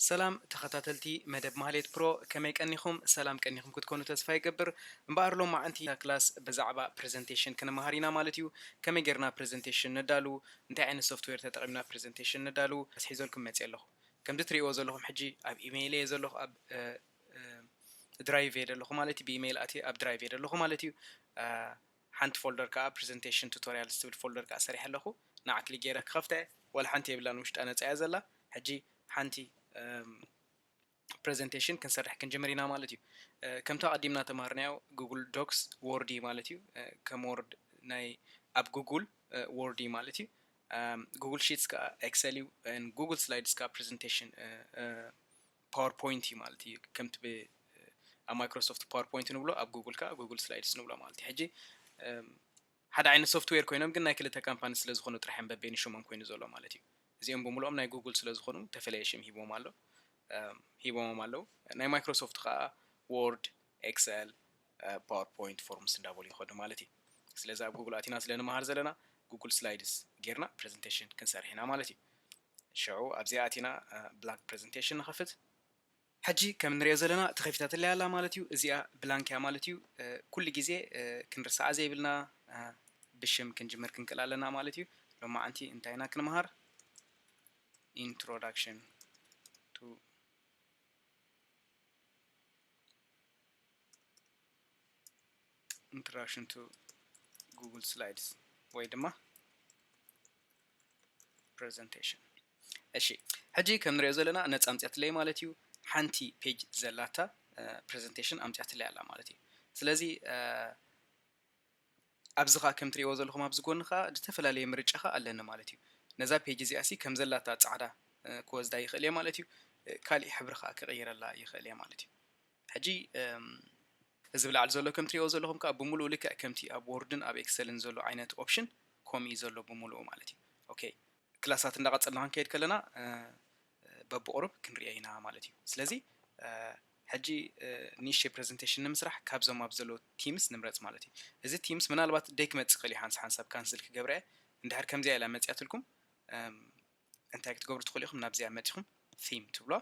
ሰላም ተኸታተልቲ መደብ ማህሌት ፕሮ ከመይ ቀኒኹም ሰላም ቀኒኹም ክትኮኑ ተስፋ ይገብር እምበኣር ሎማዓንቲ እታ ክላስ ብዛዕባ ፕረዘንቴሽን ክንመሃር ኢና ማለት እዩ ከመይ ጌርና ፕረዘንቴሽን ነዳሉ እንታይ ዓይነት ሶፍትዌር ተጠቒምና ፕረዘንቴሽን ነዳሉ ሒዘልኩም መፅየ ኣለኹ ከምዚ ትሪእዎ ዘለኹም ሕጂ ኣብ ኢመይለይ እየ ዘለኹ ኣብ ድራይቭ እየ ደለኹ ማለት እዩ ብኢመይል ኣትየ ኣብ ድራይቭ እየ ደለኹ ማለት እዩ ሓንቲ ፎልደር ከዓ ፕሬዘንቴሽን ቱቶሪያል ዝትብል ፎልደር ከዓ ሰሪሐ ኣለኹ ንዓ ክሊክ ገይረ ክኸፍታ እየ ወላ ሓንቲ የብላን ውሽጣ ነፃ እያ ዘላ ሕጂ ሓንቲ ፕሬዘንቴሽን ክንሰርሕ ክንጅምር ኢና ማለት እዩ ከምቲ ኣቐዲምና ተማሃርናዮ ጉግል ዶክስ ዎርድ እዩ ማለት እዩ ከም ዎርድ ናይ ኣብ ጉግል ዎርድ እዩ ማለት እዩ ጉግል ሺትስ ከዓ ኤክሰል እዩ ጉግል ስላይድስ ከዓ ፕሬዘንቴሽን ፓወር ፖይንት እዩ ማለት እዩ ከምቲ ብ ኣብ ማይክሮሶፍት ፓወር ፖይንት ንብሎ ኣብ ጉግል ከኣ ጉግል ስላይድስ ንብሎ ማለት እዩ ሕጂ ሓደ ዓይነት ሶፍትዌር ኮይኖም ግን ናይ ክልተ ካምፓኒ ስለ ዝኾኑ ጥራሕ እዮም በበይኑ ሽሞም ኮይኑ ዘሎ ማለት እዩ እዚኦም ብምልኦም ናይ ጉግል ስለ ዝኾኑ ተፈለየ ሽም ሂቦም ኣሎ ሂቦሞም ኣለዉ ናይ ማይክሮሶፍት ከኣ ዎርድ ኤክሰል ፓወር ፖይንት ፎርምስ እንዳበሉ ይኸዱ ማለት እዩ ስለዚ ኣብ ጉግል ኣቲና ስለ ንመሃር ዘለና ጉግል ስላይድስ ጌርና ፕሬዘንቴሽን ክንሰርሕ ኢና ማለት እዩ ሽዑ ኣብዚኣ ኣቲና ብላንክ ፕረዘንተሽን ንኸፍት። ሕጂ ከም እንርእዮ ዘለና ተኸፊታትለይ ኣላ ማለት እዩ። እዚኣ ብላንክ እያ ማለት እዩ። ኩሉ ግዜ ክንርስዓ ዘይብልና ብሽም ክንጅምር ክንክእል ኣለና ማለት እዩ። ሎማዓንቲ እንታይ ኢና ክንምሃር? Introduction to Introduction to Google Slides ወይ ድማ ፕረዘንተሽን እሺ ሕጂ ከም ንሪኦ ዘለና ነፃ ኣምፅኣትለይ ማለት እዩ ሓንቲ ፔጅ ዘላታ ፕረዘንቴሽን ኣምፅኣትለይ ኣላ ማለት እዩ ስለዚ ኣብዚ ከዓ ከም ትሪእዎ ዘለኹም ኣብዚ ጎኒ ከዓ ዝተፈላለየ ምርጫ ከዓ ኣለኒ ማለት እዩ ነዛ ፔጅ እዚኣ ሲ ከም ዘላታ ፃዕዳ ክወስዳ ይኽእል እየ ማለት እዩ ካሊእ ሕብሪ ከዓ ክቕይረላ ይኽእል እየ ማለት እዩ ሕጂ እዚ ብላዕሊ ዘሎ ከም ትሪእዎ ዘለኹም ከኣ ብምሉኡ ልክዕ ከምቲ ኣብ ዎርድን ኣብ ኤክሰልን ዘሎ ዓይነት ኦፕሽን ኮምኡ እዩ ዘሎ ብምሉኡ ማለት እዩ ኦከይ ክላሳት እንዳቐጸልና ክንከይድ ከለና በብቑሩብ ክንሪኦ ኢና ማለት እዩ ስለዚ ሕጂ ኒሽ ፕረዘንቴሽን ንምስራሕ ካብዞም ኣብ ዘሎ ቲምስ ንምረጽ ማለት እዩ እዚ ቲምስ ምናልባት ደይ ክመጽእ ክእል እዩ ሓንሳብ ካንስል ክገብረ እንድሕር ከምዚኣ ኢላ መጽያትልኩም እንታይ ክትገብሩ ትኽእሉ ኢኹም ናብዚኣ መጺኹም Theme ትብሉዋ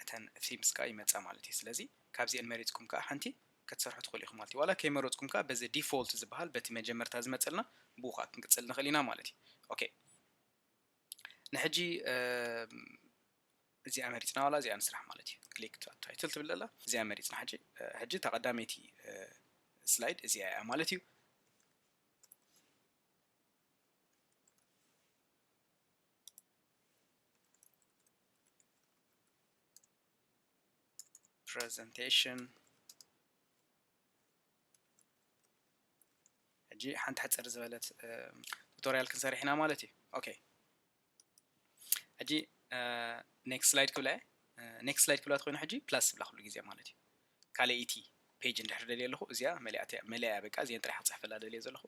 እተን Themes ከኣ ይመጻ ማለት እዩ ስለዚ ካብዚኤን መሪጽኩም ከኣ ሓንቲ ክትሰርሑ ትኽእሉ ኢኹም ማለት እዩ ዋላ ከይመረጽኩም ከኣ በዚ Default ዝበሃል በቲ መጀመርታ ዝመጸልና ብኡ ከኣ ክንቅጽል ንኽእል ኢና ማለት እዩ ኦኬ ንሕጂ እዚኣ መሪጽና ዋላ እዚኣ ንስራሕ ማለት እዩ ክሊክ ታይትል ትብል ዘላ እዚኣ መሪጽና ሕጂ ሕጂ እታ ቀዳመይቲ ስላይድ እዚኣ እያ ማለት እዩ ፕረዘንቴሽን ሕጂ ሓንቲ ሕፅር ዝበለት ቱቶሪያል ክንሰርሕ ኢና ማለት እዩ ኦኬ ሕጂ ኔክስት ስላይድ ክብላ እየ ኔክስት ስላይድ ክብላ ተኮይኑ ሕጂ ፕላስ ብላ ኩሉ ግዜ ማለት እዩ ካልኣይቲ ፔጅ እንድሕር ደልየ ኣለኹ እዚኣ መለያ በቃ እዚአን ጥራሕ ክፅሕፈላ ደልየ ዘለኹ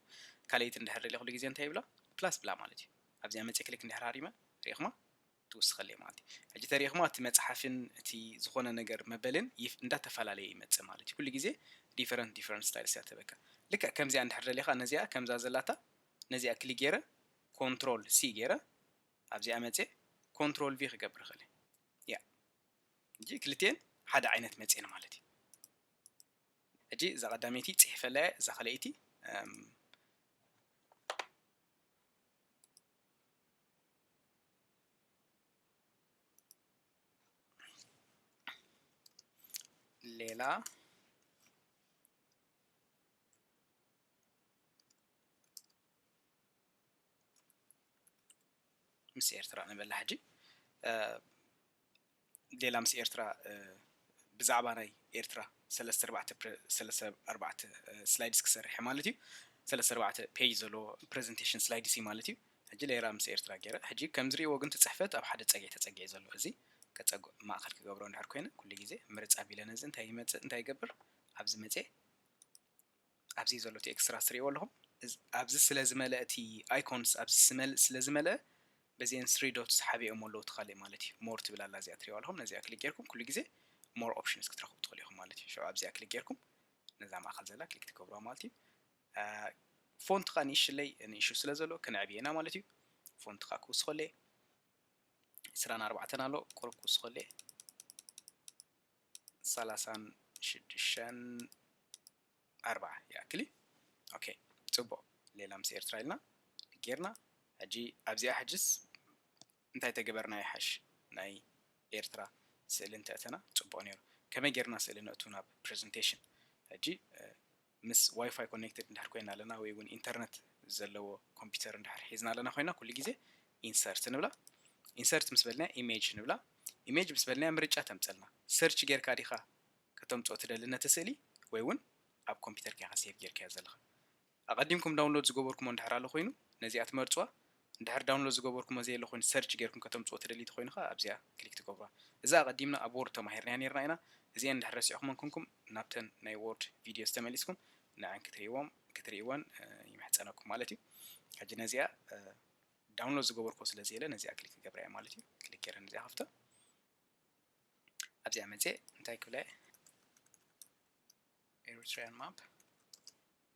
ካልኣይቲ እንድሕር ደልየ ኩሉ ግዜ እንታይ ይብላ ፕላስ ብላ ማለት እዩ ኣብዚኣ መፅእ ክሊክ እንድሕር ሃሪመ ሪኢኹማ ትውስኸለ ማለት እዩ ሕጂ ተሪኢኹማ እቲ መፅሓፍን እቲ ዝኾነ ነገር መበልን እንዳተፈላለየ ይመፅእ ማለት እዩ ኩሉ ግዜ ዲፈረንት ዲፈረንት ስታይልስ እያ ትህበካ ልክዕ ከምዚኣ እንድሕር ደሊኻ ነዚኣ ከምዛ ዘላታ ነዚኣ ክሊክ ገይረ ኮንትሮል ሲ ገይረ ኣብዚኣ መፅየ ኮንትሮል ቪ ክገብር እኽእል እየ ያ እጂ ክልቲኤን ሓደ ዓይነት መፅየን ማለት እዩ ሕጂ እዛ ቀዳመይቲ ፅሒፈላ እየ እዛ ካልኣይቲ ሌላ ምስ ኤርትራ ንበላ ሕጂ ሌላ ምስ ኤርትራ ብዛዕባ ናይ ኤርትራ ሰለስተ ኣርባዕተ ሰለስተ ኣርባዕተ ስላይድስ ክሰርሐ ማለት እዩ ሰለስተ ኣርባዕተ ፔጅ ዘለዎ ፕሬዘንቴሽን ስላይድስ እዩ ማለት እዩ ሕጂ ሌራ ምስ ኤርትራ ገይረ ሕጂ ከም ዝሪእዎ ግን ትፅሕፈት ኣብ ሓደ ፀግዒ ተፀጊዐ ዘሎ እዚ ከፀጉ ማእኸል ክገብሮ እንድሕር ኮይነ ኩሉ ግዜ ምርፅ ኣቢለ ነዚ እንታይ ይመፅእ እንታይ ይገብር ኣብዚ መፅኤ ኣብዚ ዘሎ እቲ ኤክስትራስ ትሪእዎ ኣለኹም ኣብዚ ስለ ዝመለእ እቲ ኣይኮንስ ኣብዚ ስመል ስለ ዝመለእ በዚኤን ስሪ ዶትስ ሓቢኦሞ ኣለዉ እቲ ካልእ ማለት እዩ ሞር ትብል ኣላ እዚኣ ትሪእዋ ኣለኹም ነዚኣ ክሊክ ጌርኩም ኩሉ ግዜ ሞር ኦፕሽንስ ክትረኽቡ ትኽእሉ ኢኹም ማለት እዩ ሸው ኣብዚኣ ክሊክ ጌርኩም ነዛ ማእኸል ዘላ ክሊክ ትገብሩዋ ማለት እዩ ፎንት ከዓ ንእሽለይ ንእሹ ስለ ዘሎ ክንዕብየ ኢና ማለት እዩ ፎንት ከዓ ክውስኸለ ዕስራን ኣርባዕተን ኣሎ ቁሩብ ክውስኸለ ሰላሳን ሽዱሽተን ኣርባዓ ይኣክል እዩ ኦኬ ፅቡቅ ሌላ ምስ ኤርትራ ኢልና ጌርና ሕጂ ኣብዚኣ ሕጅስ እንታይ ተገበርና ይሓሽ ናይ ኤርትራ ስእሊ እንተእተና ፅቡቅ ነይሩ ከመይ ጌርና ስእሊ ነእቱ ናብ ፕረዘንቴሽን ሕጂ ምስ ዋይፋይ ኮኔክትድ እንድሕር ኮይና ኣለና ወይ እውን ኢንተርነት ዘለዎ ኮምፒውተር እንድሕር ሒዝና ኣለና ኮይና ኩሉ ግዜ ኢንሰርት ንብላ ኢንሰርት ምስ በልናያ ኢሜጅ ንብላ ኢሜጅ ምስ በልናያ ምርጫ ተምፀልና ሰርች ጌርካ ዲኻ ከተምፅኦ ትደሊ ነቲ ስእሊ ወይ እውን ኣብ ኮምፒውተርካ ኢኻ ሴቭ ጌርካዮ ዘለኻ ኣቐዲምኩም ዳውንሎድ ዝገበርኩሞ እንድሕር ኣሎ ኮይኑ ነዚኣ ትመርፅዋ እንድሕር ዳውንሎድ ዝገበርኩሞ ዘየለ ኮይኑ ሰርች ጌርኩም ከተምጽዎ ትደልዩ ተኮይኑ ከኣ ኣብዚኣ ክሊክ ትገብሩዋ እዛ ኣቀዲምና ኣብ ዎርድ ተማሂርናያ ኔርና ኢና እዚኤን እንድሕር ረሲዕኩመን ኩንኩም ናብተን ናይ ዎርድ ቪድዮስ ተመሊስኩም ንዐን ክትሪእዎም ክትሪእወን ይምሕጸነኩም ማለት እዩ ሕጂ ነዚኣ ዳውንሎድ ዝገበርኩዎ ስለ ዘየለ ነዚኣ ክሊክ ክገብራያ ማለት እዩ ክሊክ ጌረ ነዚኣ ከፍታ ኣብዚኣ መጽኤ እንታይ ክብላ Eritrean map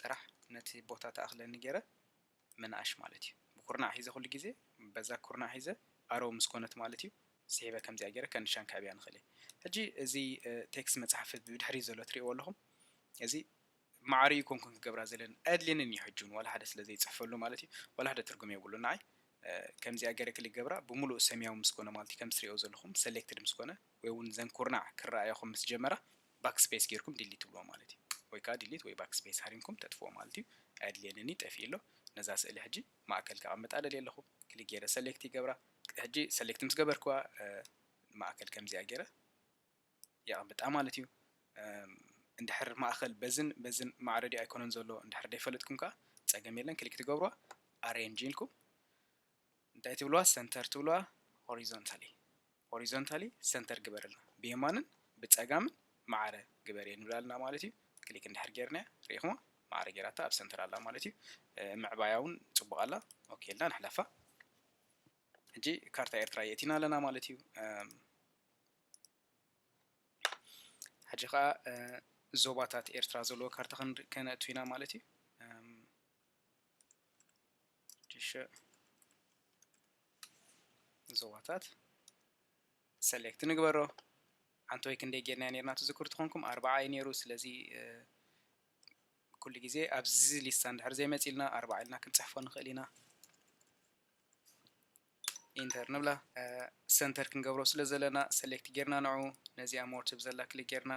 ጥራሕ ነቲ ቦታ ትኣኽለኒ ጌረ ምንኣሽ ማለት እዩ ብኩርናዕ ሒዘ ኩሉ ግዜ በዛ ኩርናዕ ሒዘ ኣረው ምስ ኮነት ማለት እዩ ስሒበ ከምዚኣ ጌረ ከንድሻን ከዕብያ ንኽእል እየ ሕጂ እዚ ቴክስት መጽሓፍ ብድሕሪት ዘሎ ትሪእዎ ኣለኹም እዚ ማዕረ ኣይኮንኩን ክገብራ ዘለኒ ኣየድልየንን እዩ ሕጂ እውን ዋላ ሓደ ስለ ዘይጽሕፈሉ ማለት እዩ ዋላ ሓደ ትርጉም የብሉን ንዓይ ከምዚኣ ገረ ክሊክ ገብራ ብምሉእ ሰማያዊ ምስ ኮነ ማለት እዩ ከም ትሪኦ ዘለኹም ሰሌክትድ ምስ ኮነ ወይ እውን ዘን ኩርናዕ ክረኣያኹም ምስ ጀመራ ባክስፔስ ጌርኩም ዲሊት ትብልዎ ማለት እዩ ወይ ከኣ ዲሊት ወይ ባክስፔስ ሃሪምኩም ተጥፍዎ ማለት እዩ ኣየድልየንን'ዩ ጠፊኡ ኣሎ ነዛ ስእሊ ሕጂ ማእከል ከቐምጣ ደልየ ኣለኹ ክሊክ ጌረ ሰሌክት ይገብራ ሕጂ ሰሌክት ምስ ገበርክዋ ማእከል ከምዚኣ ጌረ የቐምጣ ማለት እዩ እንድሕር ማእከል በዝን በዝን ማዕረ ድዩ ኣይኮነን ዘሎ እንድሕር ደይፈለጥኩም ከኣ ጸገም የለን ክሊክ ትገብርዋ ኣሬንጅ ኢልኩም እንታይ ትብልዋ ሰንተር ትብልዋ ሆሪዞንታሊ ሆሪዞንታሊ ሰንተር ግበረልና ብየማንን ብጸጋምን ማዕረ ግበር እየ ንብላ ኣለና ማለት እዩ ክሊክ እንድሕር ጌርናያ ርኢኹማ ማዕረ ጌራታ ኣብ ሰንተር ኣላ ማለት እዩ ምዕባያ እውን ጽቡቕ ኣላ ኦኬ ኢልና ንሕለፋ ሕጂ ካርታ ኤርትራ የእቲና ኣለና ማለት እዩ ሕጂ ከዓ ዞባታት ኤርትራ ዘለዎ ካርታ ከነእቱ ኢና ማለት እዩ ሽዑ ንዞባታት ሰሌክት ንግበሮ ሓንቲ ወይ ክንደይ ጌርናዮ ነርና ትዝክሩ ትኾንኩም ኣርባዓ እዩ ነይሩ ስለዚ ኩሉ ግዜ ኣብዚ ሊስታ እንድሕር ዘይመፂልና ኣርባዓ ኢልና ክንፅሕፎ ንኽእል ኢና ኢንተር ንብላ ሰንተር ክንገብሮ ስለ ዘለና ሰሌክት ጌርና ንዑ ነዚኣ ሞር ትብ ዘላ ክሊክ ጌርና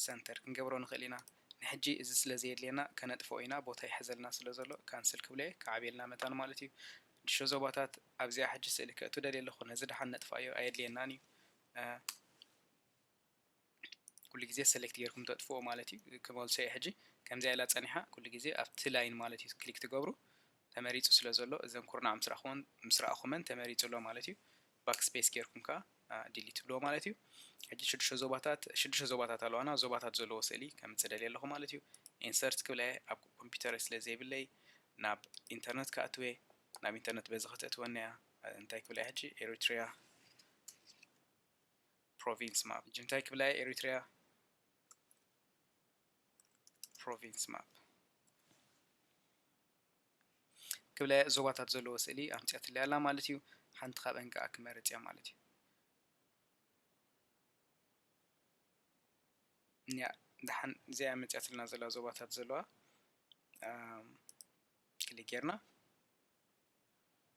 ሰንተር ክንገብሮ ንኽእል ኢና ንሕጂ እዚ ስለ ዘየድልየና ከነጥፍኦ ኢና ቦታ ይሕዘልና ስለ ዘሎ ካንስል ክብሎ'የ ክዓብየልና መታን ማለት እዩ ድሾ ዞባታት ኣብዚኣ ሕጂ ስእሊ ከእቱ ደልየ ኣለኹ ነዚ ደሓን ነጥፍኣዮ ኣየድልየናን እዩ ኩሉ ግዜ ሰሌክት ጌርኩም ተጥፍእዎ ማለት እዩ ክመልሶ'የ ሕጂ ከምዚኣ ኢላ ጸኒሓ ኩሉ ግዜ ኣብቲ ላይን ማለት እዩ ክሊክ ትገብሩ ተመሪጹ ስለ ዘሎ እዘን ኩርናዕ ምስ ረኣኹወን ምስ ረኣኹመን ተመሪጹ ኣሎ ማለት እዩ። ባክ ስፔስ ጌርኩም ከኣ ዲሊት ትብልዎ ማለት እዩ። ሕጂ ሽዱሽተ ዞባታት ሽዱሽተ ዞባታት ኣለዋና ዞባታት ዘለዎ ስእሊ ከምጽእ ደልየ ኣለኹ ማለት እዩ። ኢንሰርት ክብላ እየ ኣብ ኮምፒተረይ ስለ ዘይብለይ ናብ ኢንተርነት ክኣትው እየ ናብ ኢንተርነት በዚ ከተእትወኒ እያ እንታይ ክብላ እየ ሕጂ ኤሪትሪያ ፕሮቪንስ ማፕ ሕጂ እንታይ ክብላ እየ ኤሪትሪያ ፕሮቪንስ ማፕ ክብለ ዞባታት ዘለዎ ስእሊ ኣምጺኣትለይ ኣላ ማለት እዩ። ሓንቲ ካብኣን ከኣ ክመርጽ እያ ማለት እዩ። እኒኣ ደሓን እዚኣ መፅያትልና ዘላ ዞባታት ዘለዋ ክሊክ ጌርና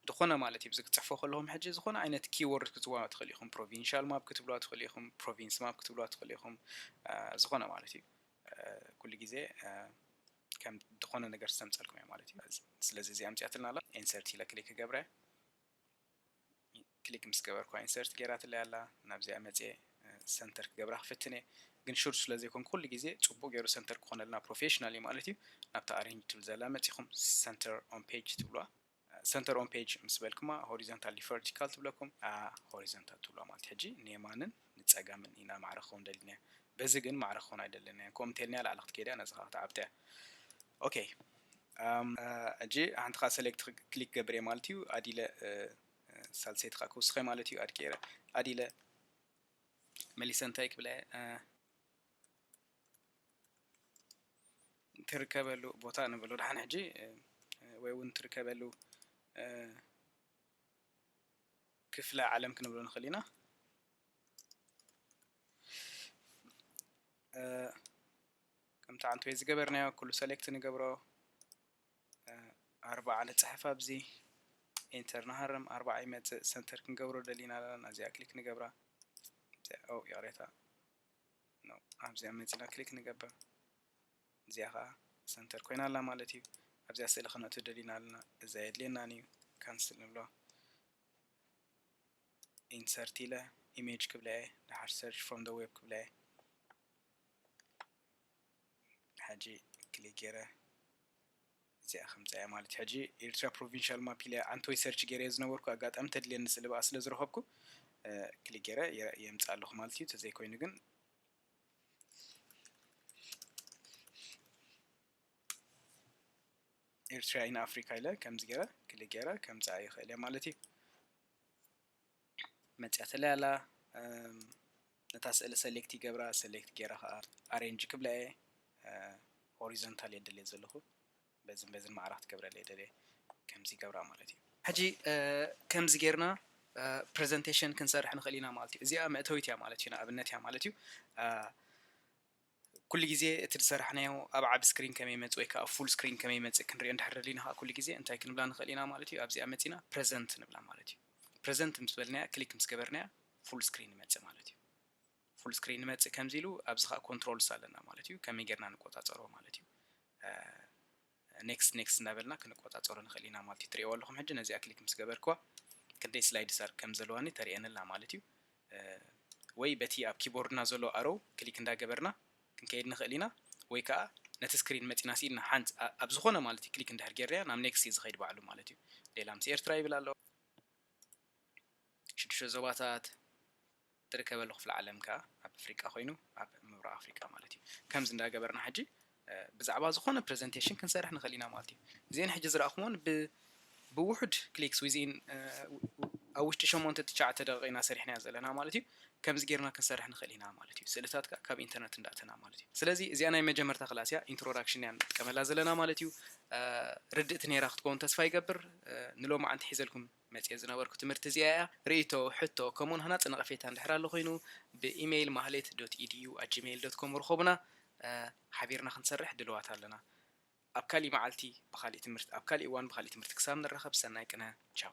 እንተኾነ ማለት እዩ። እዚ ክትጽሕፉ ከለኹም ሕጂ ዝኾነ ዓይነት ኪወርድ ክትጽውዑ ትኽእሉ ኢኹም። ፕሮቪንሻል ማፕ ክትብሉዋ ትኽእሉ ኢኹም፣ ፕሮቪንስ ማፕ ክትብሉዋ ትኽእሉ ኢኹም፣ ዝኾነ ማለት እዩ። ኩሉ ግዜ ከም ዝኾነ ነገር ዝተምጸልኩም እያ ማለት እዩ። ስለዚ እዚኣ ኣምጺኣትልና ኣላ። ኢንሰርት ኢለ ክሊክ ክገብረ። ክሊክ ምስ ገበርኩዋ ኢንሰርት ጌራትለይ ኣላ ናብዚኣ መጽየ ሰንተር ክገብራ ክፍትን እየ ግን ሹር ስለ ዘይኮንኩ ኩሉ ግዜ ጽቡቅ ጌሩ ሰንተር ክኮነልና ፕሮፌሽናል እዩ ማለት እዩ ናብታ ኣሬንጅ ትብል ዘላ መጺኹም ሰንተር ኦን ፔጅ ትብሉዋ ሰንተር ኦን ፔጅ ምስ በልኩማ ሆሪዘንታል ዲዩ ቨርቲካል ትብለኩም ሆሪዘንታል ትብሉዋ ማለት ሕጂ ንየማንን ንጸጋምን ኢና ማዕረ ክኸውን ደሊና በዚ ግን ማዕረ ክኾን ኣይደለናዮ ከምኡ እንተልናያ ላዕሊ ክትከይድ እያ ነዚ ከዓ ክትዓብጥ እያ ኦኬ ሕጂ ሓንቲ ከዓ ሰሌክት ክሊክ ገብር እየ ማለት እዩ ኣዲለ ሳልሰይቲ ከኣ ክውስኸ ማለት እዩ ኣድቂረ ኣዲለ መሊሰ እንታይ ክብለ ትርከበሉ ቦታ ንበሎ ድሓን ሕጂ ወይ እውን ትርከበሉ ክፍለ ዓለም ክንብሎ ንኽእል ኢና ከምቲ ዓንት ወይ ዝገበርናዮ ኩሉ ሰሌክት ንገብሮ ኣርብዓ ንጽሕፍ ኣብዚ ኢንተር ንሃርም ኣርብዓ ይመጽእ ሰንተር ክንገብሮ ደሊና ኣለና ናዚኣ ክሊክ ንገብራ ኦ ይቕሬታ ነው ኣብዚኣ መጺና ክሊክ ንገብር እዚኣ ከዓ ሰንተር ኮይና ኣላ ማለት እዩ ኣብዚኣ ስእሊ ክነእቱ ደሊና ኣለና እዛ የድልየናን እዩ ካንስል ንብሎ ኢንሰርት ኢለ ኢሜጅ ክብላ እየ ድሓር ሰርች ፍሮም ደ ዌብ ክብላ እየ ሕጂ ክሊክ ጌረ እዚኣ ከምጻያ ማለት ሕጂ ኤርትራ ፕሮቪንሻል ማፕ ኢለ ዓንተወይ ሰርች ጌረዮ ዝነበርኩ ኣጋጣሚ ተድልየኒ ስለ ብኣ ስለ ዝረኸብኩ ክሊክ ጌረ የምጽኣ ኣለኹ ማለት እዩ ተዘይ ኮይኑ ግን ኤርትራ ኢን ኣፍሪካ ኢለ ከምዚ ጌረ ክሊክ ጌረ ከምጽኣ ይኽእል እየ ማለት እዩ መጽያትለይ ኣላ ነታ ስእሊ ሰሌክት ይገብራ ሰሌክት ገይረ ከኣ ኣሬንጅ ክብላ እየ ሆሪዞንታል እየ ደልየ ዘለኹ በዝን በዝን ማዕራ ክትገብረለይ እየ ደልየ ከምዚ ይገብራ ማለት እዩ ሕጂ ከምዚ ጌርና ፕረዘንቴሽን ክንሰርሕ ንኽእል ኢና ማለት እዩ እዚኣ መእተዊት እያ ማለት እዩ ንኣብነት እያ ማለት እዩ ኩሉ ግዜ እቲ ዝሰራሕናዮ ኣብ ዓቢ ስክሪን ከመይ ይመጽእ ወይ ከኣ ኣብ ፉል ስክሪን ከመይ ይመጽእ ክንሪኦ እንድሕር ደሊና ከኣ ኩሉ ግዜ እንታይ ክንብላ ንኽእል ኢና ማለት እዩ ኣብዚኣ መጺና ፕረዘንት ንብላ ማለት እዩ ፕረዘንት ምስ በልናያ ክሊክ ምስ ገበርናያ ፉል ስክሪን ይመጽእ ማለት እዩ ፉል ስክሪን ይመጽእ ከምዚ ኢሉ ኣብዚ ከኣ ኮንትሮልስ ኣለና ማለት እዩ ከመይ ጌርና ንቆጻጸሮ ማለት እዩ Next Next እንዳበልና ክንቆጻጸሮ ንኽእል ኢና ማለት እዩ። ትርእይዎ ኣለኹም ሕጂ ነዚኣ ክሊክ ምስ ገበርክዋ ክንደይ ስላይድስ ኣር ከም ዘለዋኒ ተርእየኒ ኣላ ማለት እዩ። ወይ በቲ ኣብ ኪቦርድና ዘሎ ኣሮው ክሊክ እንዳገበርና ክንከይድ ንኽእል ኢና ወይ ከኣ ነቲ ስክሪን መጺና ስኢልና ሓንት ኣብ ዝኾነ ማለት እዩ ክሊክ እንድሕር ጌርናያ ናብ Next እዩ ዝኸይድ ባዕሉ ማለት እዩ። ሌላ ምስ ኤርትራ ይብል ኣሎ። ሽዱሽተ ዞባታት። እትርከበሉ ክፍለ ዓለም ከኣ ኣብ ኣፍሪቃ ኮይኑ ኣብ ምብራቅ ኣፍሪቃ ማለት እዩ ከምዚ እንዳ ገበርና ሕጂ ብዛዕባ ዝኮነ ፕረዘንተሽን ክንሰርሕ ንክእል ኢና ማለት እዩ እዚኤን ሕጂ ዝራእኩሞን ብ ብውሑድ ክሊክስ ዊዝኢን ኣብ ውሽጢ ሸሞንተ ትሽዓተ ደቂቅ ኢና ሰሪሕናዮ ዘለና ማለት እዩ ከምዚ ጌርና ክንሰርሕ ንክእል ኢና ማለት እዩ ስእልታት ከኣ ካብ ኢንተርነት እንዳ ኣተና ማለት እዩ ስለዚ እዚኣ ናይ መጀመርታ ክላስ እያ ኢንትሮዳክሽን እያ ንጥቀመላ ዘለና ማለት እዩ ርድእቲ ኔራ ክትከውን ተስፋ ይገብር ንሎማዓንቲ ሒዘልኩም መጽሔት ዝነበርኩ ትምህርቲ እዚኣ እያ። ርእይቶ፣ ሕቶ፣ ከምኡውን ሃናጺ ነቐፌታ እንድሕር ኣሎ ኮይኑ ብኢመይል ማህሌት ዶት ኢድዩ ኣት ጂመይል ዶት ኮም ርኸቡና። ሓቢርና ክንሰርሕ ድልዋት ኣለና። ኣብ ካሊእ መዓልቲ ብኻሊእ ትምህርቲ ኣብ ካሊእ እዋን ብኻሊእ ትምህርቲ ክሳብ ንራኸብ ሰናይ ቅነ። ቻው።